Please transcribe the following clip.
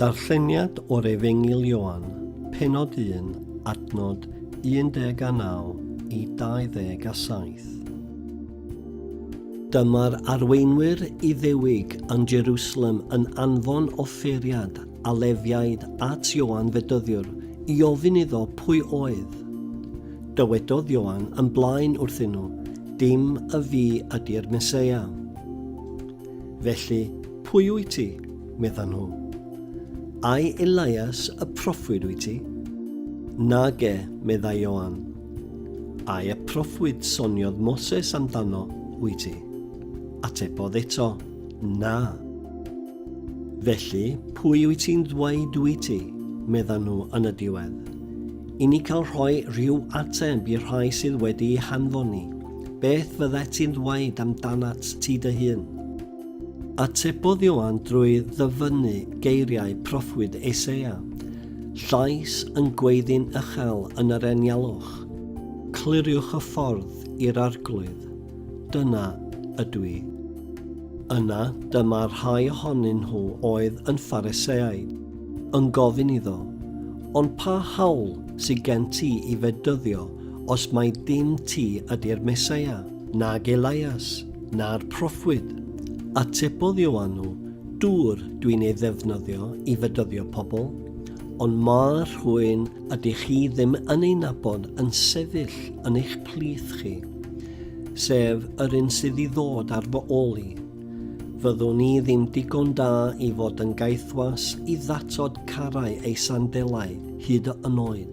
Darlleniad o'r Efengyl Ioan, penod 1, adnod 19 i 27. Dyma'r arweinwyr Iddewig yn Jerusalem yn anfon offeriad a lefiaid at Ioan Fedyddiwr i ofyn iddo pwy oedd. Dywedodd Ioan yn blaen wrthyn nhw, Dim y fi ydy'r Meseia. Felly, pwy wyt ti? meddan nhw. Ai Elias y proffwyd wyt ti? Nage, meddai Ioan. Ai y proffwyd soniodd Moses amdano wyt ti? Atebodd eto, na. Felly, pwy wyt ti'n ddweud wyt ti? meddan nhw yn y diwedd. I ni cael rhoi rhyw ateb i'r rhai sydd wedi'i hanfon ni, beth fyddet ti'n ddweud amdanat ti dy hun? Atebodd Ioan drwy ddyfynnu geiriau proffwyd Eseia, Llais yn gweiddi'n uchel yn yr enialwch, Cliriwch y ffordd i'r arglwydd, dyna ydw i. Yna dyma rhai ohonyn nhw oedd yn Phariseaid, yn gofyn iddo, Ond pa hawl sy gen ti i fedyddio os mai dim ti ydi'r Meseia, nag Elias, na'r proffwyd? Atebodd Ioanw, Dŵr dwi'n ei ddefnyddio i fedyddio pobl, ond mae rhywun ydych chi ddim yn ei nabod yn sefyll yn eich plith chi, sef yr un sydd i ddod ar fy ôl i. Fyddwn i ddim digon da i fod yn gaethwas i ddatod carau ei sandelau hyd yn oed.